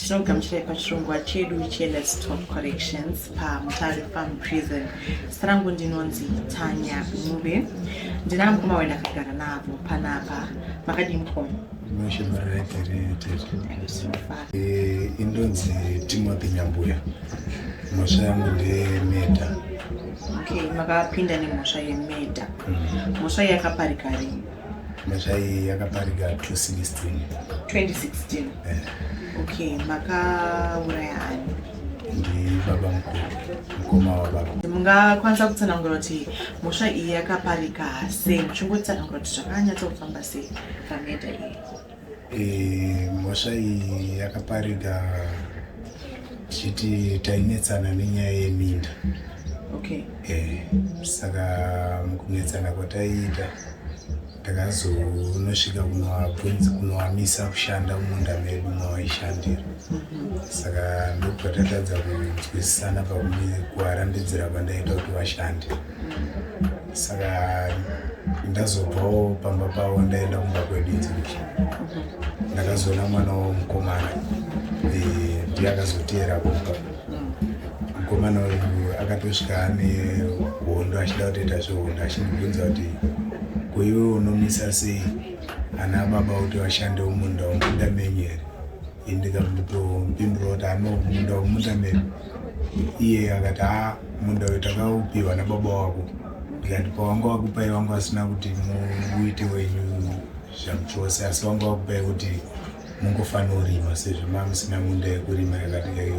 tinogamuchirai pachirongwa chedu chelets top collections pamutare farm prison zita rangu ndinonzi tanya mube ndina mukoma wena akagara navo panapa makadii mukoma eh, indonzi timothy nyambuya mhosva yangu ndeyemeda okay makapinda nemhosva yemeda mm. mhosva yakaparikari nezvai yakaparika 2016 2016 eh. okay makauraya ani ndibaba mukuru mukoma wababa mungakwanisa kutsanangura kuti mhosva iyi yakaparika sei muchingotsanangura kuti zvakanyatsa kufamba sei pameda iyi Eh, mhosva iyi yakapariga tichiti tainetsana nenyaya yeminda okay. e, saka mukunetsana kwataiita takazonosvika kunoabvunzi kunoamisa kushanda mumunda medu mawaishandira mhm. saka ndopatatadza kunzwisisana pakuarambidzira kwandaita kuti vashande saka ndazobvawo pamba pavo ndaenda kumba kwedu inzimbi ndakazoona mwana womukomana eh, ndiye akazoteera kumba mukomana uyu akatosvika ane hondo achida kutoita zvehondo achindibvunza kuti kuiwe unomisa sei ana baba kuti vashande umunda umunda menyu here indikamuto mpindura kuti ano munda umunda menyu iye akati haa munda uyu takaupiwa nababa wako ndikati pawanga wakupai wanga wasina kuti muite wenyu zvamuchose asi wanga wakupai kuti mungofanorima sezvo mamusina munda yekurima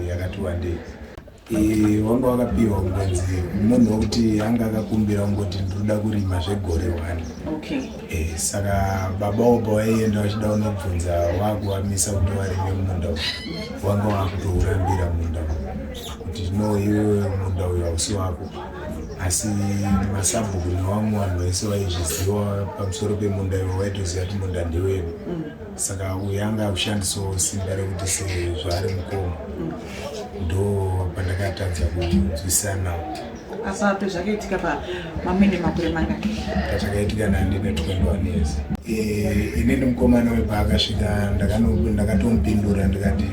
yakati wandei e, wanga wakapiwa kungonzi munhu wekuti anga akakumbira kungoti ndinoda kurima zvegore one okay. Eh, saka baba oba waienda wachida kunobvunza wakuwamisa kuti warime munda uyu wanga wakutourambira munda uyu kuti no iwe munda uyu hausi wako asi masabhuku nevamwe vanhu vaise vaizviziva pamusoro pemunda ivo vaitoziva kuti munda ndewedu saka uyu anga akushandisawo simba rekuti sezvaari mukoma ndo pandakatadza kunzwisana Asape zvakaitika pa mamwene makore mangani? Zvakaitika nandi ne 21 years. Eh, ini ni mukomana we paakasvika ndakano ndakatomupindura ndikati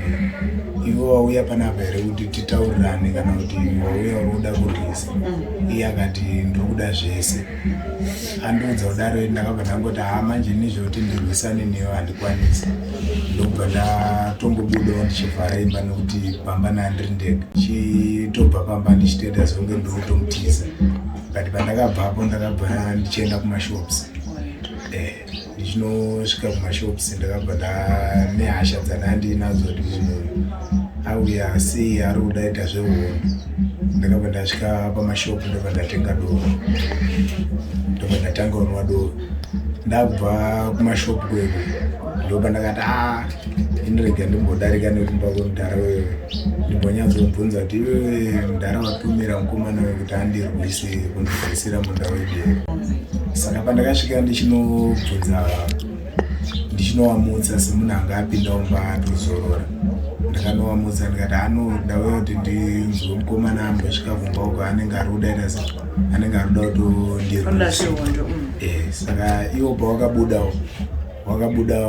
iwe wauya panapa here kuti titaurirane kana kuti wauya uri kuda kurwisa mm. iye akati ndiri kuda zvese andiudza kudaro ndakabva ndangoti haa manje ini zvekuti ndirwisane newe handikwanisi ndokubva ndatongobudawo ndichivhara imba nekuti pamba nandiri ndega chitobva pamba ndichitoita zonge ndokutomutiza but pandakabvapo ndakabva ndichienda kumashops eh. ndichinosvika kumashops ndakabva ndanehasha dzandandinadzo kuti munhu auya sei ari kuda ita zvehondo ndakabva ndasvika pamashop ndobva ndatenga doro ndobva ndatanga unwa doro ndabva kumashop kwedu ndoba ndakati a ah, indirega ndimbodarika nekumba kwemudhara wewe ndimbonyatsokubvunza kuti iwewe mudhara watumira mukomana wekuti andirwise kundigarisira munda wedu saka pandakasvika ndichinobvunza ndichinovamutsa semunhu anga apinda umba ndozorora ndakanovamutsa ndikati anoda uya kuti ndinzwe mukomana ambosvika kumba uko anenge ari kuda ita sa anenge ari kuda kutondirwonda mm. eh, saka ivo pawakabuda wakabuda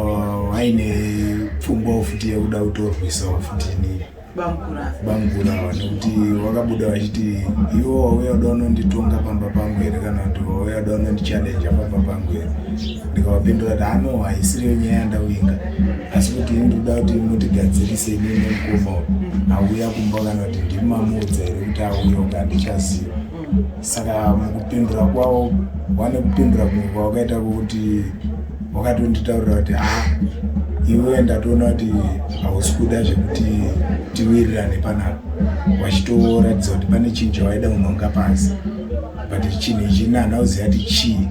waine pfungwa futi yekuda kutorwisawo futi inini bangura bangura nekuti wakabuda vachiti iwo wauya uda unonditonga pamba pangu here kana kuti wauya uda unondichallenja pamba pangu here ndikavapindura kuti ano ah, haisiriyo nyaya yandauinga asi kuti ini ndikuda kuti mutigadzirise ini nemukoma auya kumba kana kuti ndiri mamuudza here kuti auya uka handichaziva saka mukupindura kwavo wane kupindura kumwe kwawakaita kuti wakatonditaurira kuti ha ah, iwe ndatoona kuti hausi kuda zvekuti tiwirirane panapa wachitoratidza kuti pane chinhu chawaida unonga pasi but chinhu ichi nana uziva kuti chii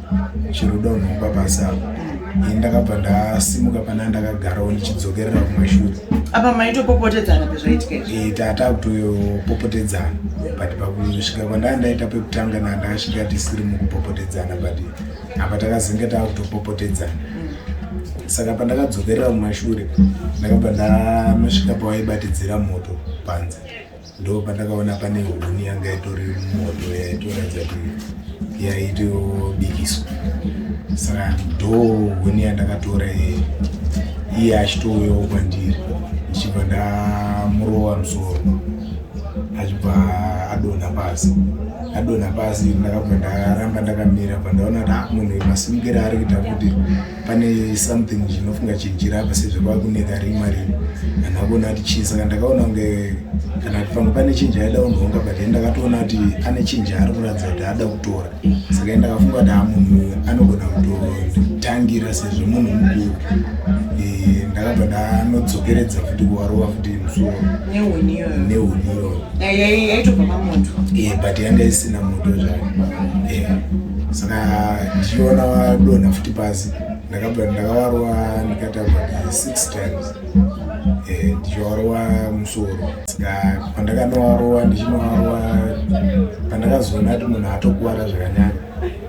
chinoda unonga pasi apo ini ndakabva ndasimuka pana ndakagarawo ndichidzokerera kumashure apa maitopopotedzana pezvaitika izvi Eh, ta- takutopopotedzana but pakusvika kwandaa ndaita pekutanga na ndakasvika tisiri mukupopotedzana but apa takazenge takutopopotedzana saka pandakadzokerera kumashure ndakabva ndanosvika pawaibatidzira moto panze ndo pandakaona pane huni yanga itori moto yaitoratidza kuti yaitobikiswa saka ndo huni yandakatora iye achitouyawo kwandiri ndichibva ndamurova musoro achibva adonha pasi adonha pasi ndakabva ndaramba ndakamira pandaona kuti ah, munhu masimukira ari kuita kuti pane something chinofunga chijira apa sezvo kwakuneka rima rino vanhu akuona kuti chii saka ndakaona kunge kana kuti pamwe pane chinji aida kunhonga but i ndakatoona kuti ane chinji ari kuratidza kuti ada kutora saka i ndakafunga kuti amunhu anogona kutotangira sezvo munhu mukuru ndakabva ndanodzokeredza futi kuwarowa futi musoro nehuni iyoyo Eh, but yanga isina moto zvayo eh, saka ndichiona wadonha futi pasi ndakabva ndakawarwa ndikatamba 6 times eh, ndichiwarwa musoro saka pandakanowarwa ndichinowarwa pandakazoona kuti munhu atokuvara zvakanyanya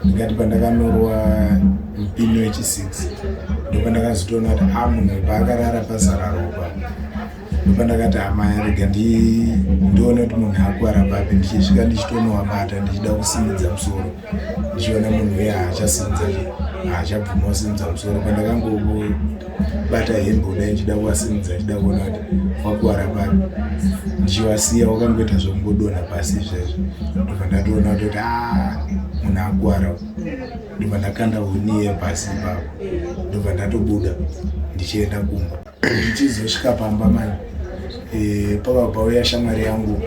ndikati pandakanorwa mupini wechi6 ndopandakazotoona kuti a ah, munhu paakarara pasara ropa pandakati amai arega ndione kuti munhu akuwara papi ndichisvika ndichitonovabata ndichida kusimudza musoro ndichiona munhu uye haachasimudza haachabvuma kusimudza musoro pandakangobata hembe kudai ndichida kuvasimudza ndichida kuona kuti wakuwara papi ndichivasiya wakangoita zvokungodonha pasi izvezvo ndobva ndatoona kutoti a ah, munhu akuwara ndobva ndakanda huniye pasi ipapo ndobva ndatobuda ndichienda kumba ndichizosvika pamba mani eh, pavabauya shamwari yangu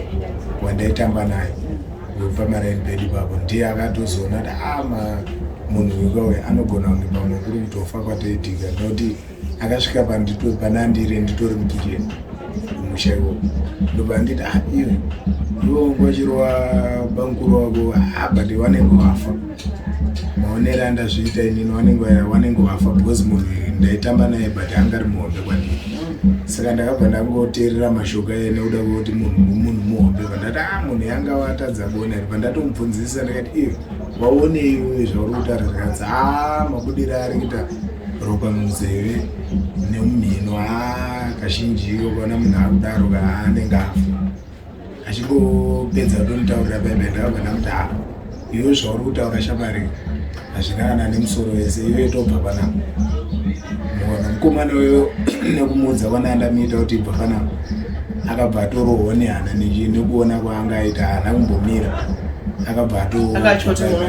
wandaitamba naye wepamaraini pedu papo ndiye akatozoona kuti ama ah, munhu wekawe anogona kunge pamwe kuri kutofa kwatoitika noti akasvika pandito panandire nditori mukiriya kumusha ikoko ndopanditi ah, iwe iwe ngochirwa bamukuru wako ah, but wanenge wafa maonere andazviita inini wanenge wanenge wafa because munhu ndaitamba naye but anga ari muhombe kwandii saka ndakabva ndangoteerera mashoko aye nekuda kwekuti munhu munhu muhombe pandati a ah, munhu yanga watadza kuona iri pandatomubvunzisisa ndikati iyo waonei uye zvauri kutaura zvikadzi a ah, mabudiro ari kuita ropa munzeve nemumhino a ah, kazhinji iko kuona munhu akudaro kaanenge afa achingopedza kundonitaurira bebe ndakagona kuti ha iwe zvauri kutaura shamari hazvina kana nemusoro wese iwe tobva panapa mona mukomana uyo nekumuudza kwana andamiita kuti ibva panapa akabva atorohwa nehana nekuona kwaanga aita hana kumbomira akabva atoakabva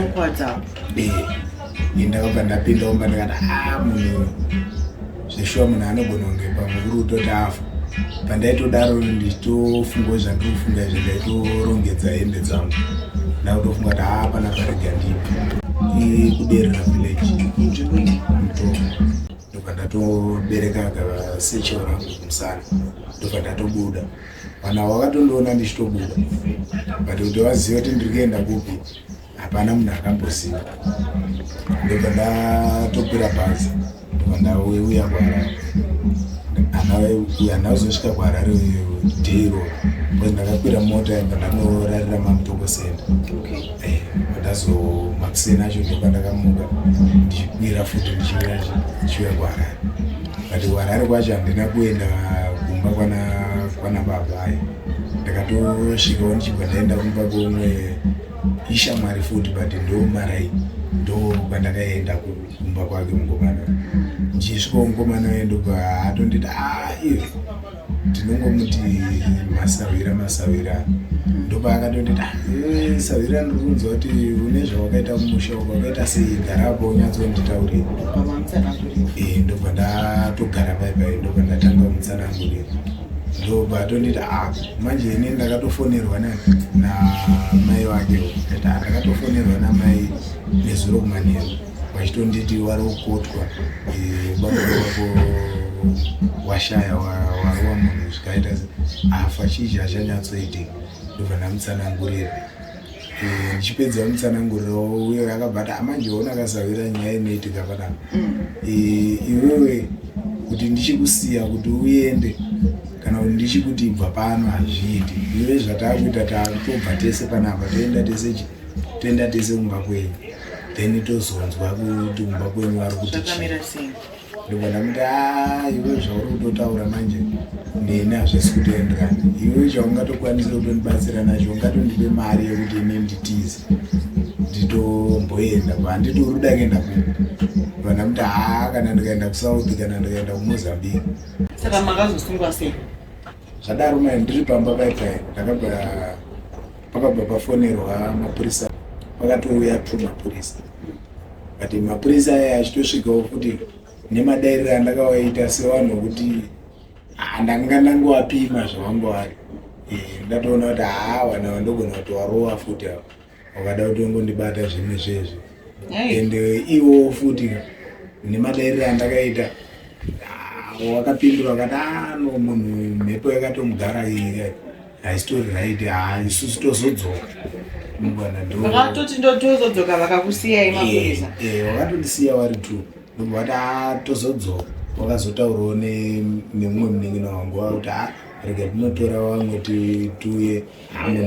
ndapinda omba ndikati ha ah, munhu zveshuwa munhu anogona kunge pamwe uri kutoti afa pandaitodaro ndichitofungawo zvandiri kufunga izvi ndaitorongedza hembe dzangu ndakutofunga kuti haa pana parega ndipi ikuderera village ndobva ndatobereka akasecho rangu kumusana ndobva ndatobuda vanhu avo vakatondiona ndichitobuda but kuti vazive kuti ndiri kuenda kupi hapana munhu akamboziva ndobva ndatopira bhazi ndobva ndauya kuharare hana uzosvika kuharare dero bcause ndakakwira mota yanga ndanorarira mamutokosenda eh, ndazomakuseni acho ndoka ndakamuka ndichikwira futi ndichiuya ndichiuya kuharare but kuharare kwacho handina kuenda kumba kwana kwana baba ayo ndakatosvikawo ndichibva ndaenda kumba komwe ishamwari futi but ndomarai ndo kwandakaenda kumba kwake mukomana ndichisvika mukomana uye ndobva atonditi aif ah, tinongomuti masahwira masahwira ndoba akatonditi ah, eh, sahwira ndirikunzwa kuti une zvawakaita kumusha uko akaita sei garapo unyatsonditaure eh, ndobva ndatogara paipai ndobva ndatanga kumutsanangurira ndoba atonditi a ah, manje ini ndakatofonerwa namai vake kuti ndakatofonerwa namai nezuro kumanheru vachitonditi wari kukotwa babaako washaya warowa munhu zvikaita afa chii chachanyatsoitika ndobva ndamutsanangurira Eh, ndichipedza mutsananguriro uyo akabata amanje ona akasavira nyaya inoitika panapa mm. eh, iwewe kuti ndichikusiya kuti uende kana kuti ndichikuti ibva pano hazviiti iwe zvataakuita taakutobva tese panapa toenda tese toenda tese kumba kwenyu then tozonzwa kuti kumba kwenyu vari kuti chii ndobva ndamuti a iwe zvauri kutotaura manje neni hazvisi kutoendera iwe chaungatokwanisa kutondibatsira nacho ungatondipe mari yekuti ini nditize nditomboenda handiti uri kuda kuenda kupi ndobva ndamuti haa kana ndikaenda kusouth kana ndikaenda kumozambique saka makazosungwa sei zvadaro mai ndiri pamba paipai ndakabva pakabva pafonerwa mapurisa pakatouya two mapurisa but mapurisa aya achitosvikawo kuti nemadairiro andakawaita sevanhu vokuti handanga ndangowapima zvavanga vari eh, ndatoona kuti haa vana vandogona kuti warova futi ava wakada kuti ongondibata zvimwe zvezvo and eh, iwowo futi nemadairiro andakaita wakapindura wakati ano ah, munhu mhepo yakatomugara ii Haitori right, haa isusu tozodzoka. Vakatoti ndotozodzoka vakakusiyai mapurisa. Eh, eh vakatondisiya vari two. Ndobva vati haa tozodzoka. Wakazotaurawo nemumwe munin'ina wangu wava kuti haa rega tinotora vamwe tiuye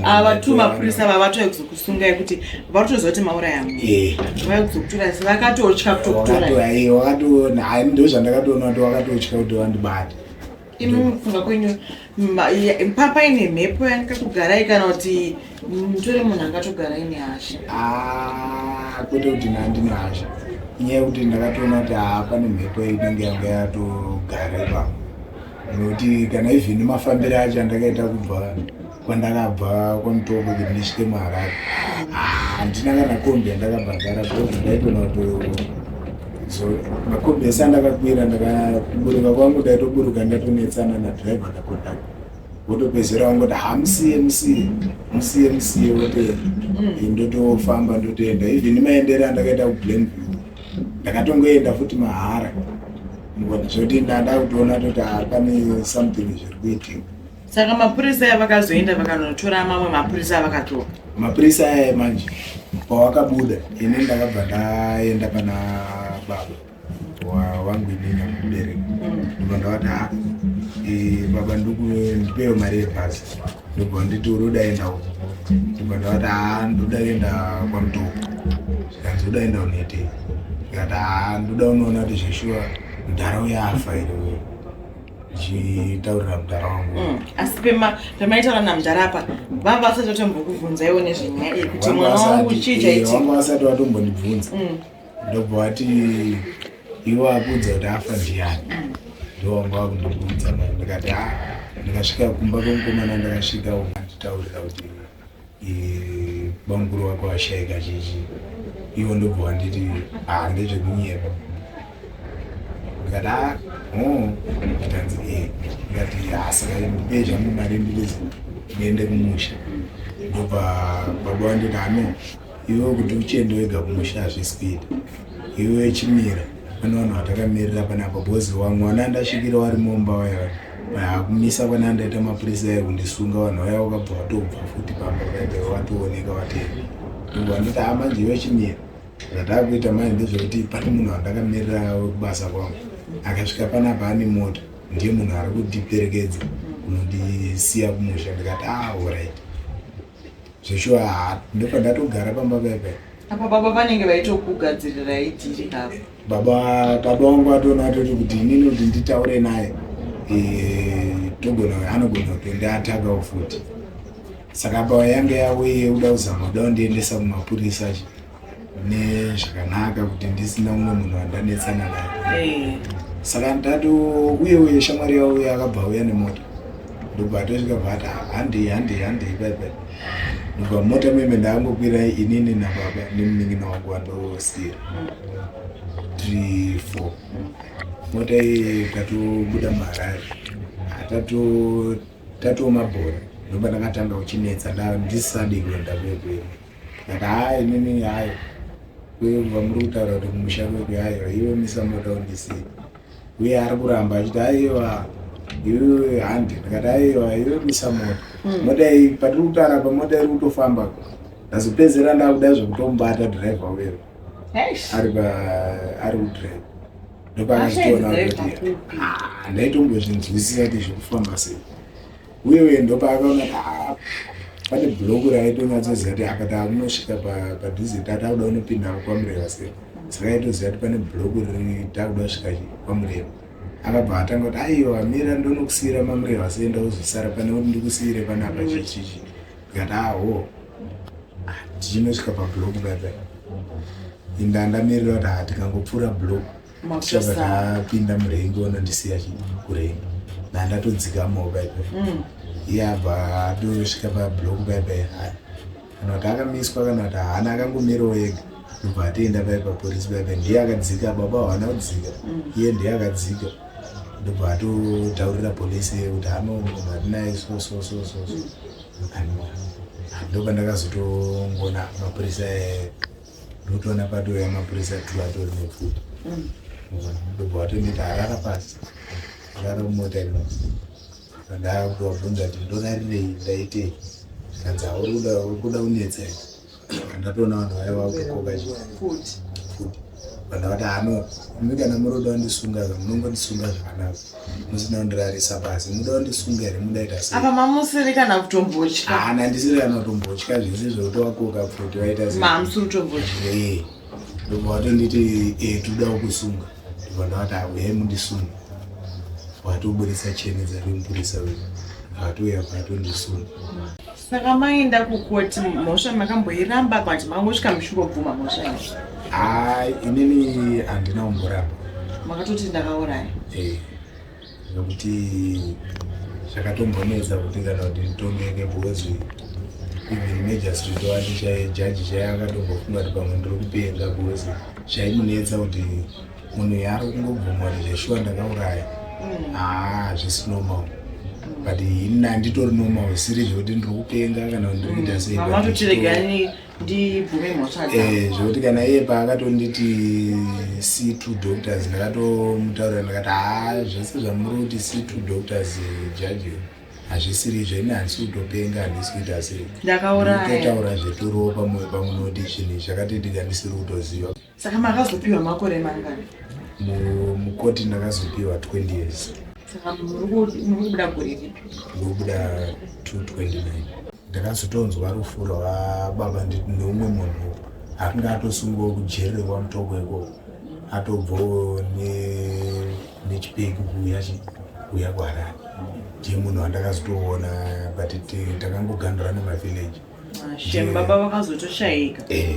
ava tu mapurisa vavatove kuzokusungai kuti vatoziva kuti mauraya mwe eh. vaya kuzokutora si vakatotya kutokutorai eh, wakatoona ndozvandakatoona kuti wakatotya kuti vandibata imi mufunga kwenyu papaine mhepo yangatogarai kana kuti mutore munhu angatogarai nehasha ah, kwete kuti nandine hasha inyaya yekuti ndakatoona kuti haa pane mhepo inenge yanga yatogara ipapo nekuti kana even mafambiro acho andakaita kubva kwandakabva kwamutongo kuti ndisvike muharare handina kana kombi yandakabhadhara because ndaitona kutoyoko so makombi ese andakakwira ndakaburuka kwangu ndaitoburuka ndatonetsana nadriver ndakotaka wotopedzera wangoti hamusiye musiye musiye musiye wote mm. ndotofamba ndotoenda even maendere andakaita kublame ndakatongoenda futi mahara zvoti ndada kutoona toti hapane something zviri kuitika saka mapurisa aya vakazoenda vakanotora mamwe mapurisa avakadzoka mapurisa aya manje pawakabuda ini ndakabva ndaenda pana baba wangu inini amubereki ndibva ndavati ha baba ndikupewo mari yebhasi ndibva nditi uri udaenda uko ndibva ndavati ha ndoda kuenda kwamutoko kanzi uda enda unetei ndikati ha ndoda unoona kuti zveshuwa mudhara uyafa iri ndichitaurira mudhara wangu mm. asi pema pemaitaura namudhara apa vanga vasati vatombokubvunza iwo nezvenyaya iyi kuti mwana wangu chii chaiti vanga vasati vatombondibvunza mm. ndobva vati ivo akuudza kuti afa ndiyani mm. ndovanga vakundibvunza ndikati a ah, ndikasvika kumba kwemukomana ndakasvika uanditaurira kuti bamukuru wako ashaika chichi ivo ndobva wanditi ah ndezvekunyepa ndikati a ah, o oh, ndikanzi e eh. ndikati asaka ah, ndipei zvangu mari ndirizi ndiende kumusha ndobva baba wanditi ano ah, iwe kuti uchiende wega kumusha hazvisi kuita iwe chimira pane vanhu vatakamirira panapa bhozi wangu wana ndasvikira wari mumba waya akumisa kwana ndaita mapurisa ayi kundisunga vanhu vaya wakabva watobva futi pamba vaibva watooneka vateni ngo andita hama nje vechimira zvataakuita mai ndezvekuti pane munhu wandakamirira wekubasa kwangu akasvika panapa ane mota ndiye munhu ari kundiperekedza kunondisiya kumusha ndikati ah orit zveshuwa haa ndopa ndatogara pamba veve apa baba vanenge vaitokugadzirira idhiri apa baba baba wangu atoona atoti kuti inini kuti nditaure naye eh, togona anogona kutondiatagawo futi saka apa yange yauye uda kuzama uda kundiendesa kumapurisa chi nezvakanaka kuti ndisina umwe munhu wandanetsana naye eh. saka ndati uye uye shamwari yavo uye akabva auya nemota ndobva atosvika bvati handei handei handei baibai ndobva mota meme ndaangokwirai inini nababa nemunin'ina wangu wandosiira three four mota iye tatobuda maharare tatomabhora ndoba ndakatanga kuchinetsa ndisadi kuenda kwekweku Ndikati haa inini hayo kwebva muri kutaura kuti kumusha kwedu hayo iwe misamota undisii uye ari kuramba achiti aiwa iwe handi ndikati aiwa iwe misamota hmm. mota iyi patiri kutaura pamota iri kutofamba ndazopedzera ndakuda zvekutomubata driver uyo ari ari kudrive ndopaakazitoona kuti ah, ndaitombozvinzwisisa kuti zvekufamba sei uye uye ndopaakaona kuti haa pane bloku raitonyatsoziva kuti apa taakunosvika padhuze ta takuda unopinda kwamureva se saka aitoziva kuti pane bloku riri takuda kusvika kwamureva akabva atanga kuti aiwa mira ndonokusiyira mamureva seenda uzosara pane kuti ndikusiyire panapa chichichi ndikati aho tichinosvika pabloku baba inda ndamirira kuti haa tikangopfuura bloku apinda murengi onondisiya kurengi nandatodzikamawo baibai mm. iye abva atosvika pablok baibai kana kuti akamiswa kana kuti haana akangomirawo ega ndobva atoenda pai papolisi baibai ndiye akadzika baba haana kudzika mm. iye ndiye akadzika ndobva atotaurira polisi kuti anoatinaye sosososo mm. ndobva ndakazotongoona mapurisa ndotoona patouya mapurisa two atori nepfuti ndobva watoneta harara pasi rara mumota ino ndakuvabvunza kuti ndorarirei ndaitei kanzi hauri kuda unetsa ndatoona vanhu vaya vakukoka futi vanhu vati hano imi kana muri kuda kundisunga munongondisunga zvakanaka muzinondirarisa pasi muda kundisunga here mudaita sei apa mamusiri kana kutombotya hana ah, ndisiri kana kutombotya zvese zvekuti wakoka pfuti waita sei mamusiri kutombotya ee ndobva watonditi ee eh, toda kukusunga ndobva ndawati auye mundisunga watoburitsa cheni dzari mupurisa uyu atouya patondisunga Saka maenda kukoti mhosva makamboiramba but mangosvika muchingobvuma mhosva iyi? Ah, inini handina kumboramba. Makatoti ndakauraya? Eh. Nokuti zvakatombonetsa kuti kana kuti nditongeke because even magistrate wacho chaijaji chaiakatombofuma kuti pamwe ndiri kupenga because zvaimunetsa kuti munhu yaari kungobvuma kuti zveshuwa ndakauraya mm. haa zvisi normal but ini handitori normal siri zvekuti ndiri kupenga kana kuti ndiri kuita mm. sei ndibvume mhosva eh, zvekuti kana iye paakatonditi see two doctors ndakatomutaurira ndakati haa zvese zvamuri kuti see two doctors jaji hazvisiri izvo ini handisi kutopenga handisi kuita sei ndakauratotaura zveturopa moyo pamunoti chinhu chakatitika ndisiri kutoziva Saka makazopiwa makore mangani? Mukoti ndakazopiwa 20 years. Saka muri kubuda gore ripi? Ndobuda 229. Ndakazotonzwa rufu rwababa nditi neumwe munhu akanga atosungiwa kujeri rekwaMutoko ikoko atobvawo nechipeki kuuya kuuya kwaharare ndiye munhu wandakazotoona but takangogandura nemavillage ah, shame baba vakazotoshaika eh.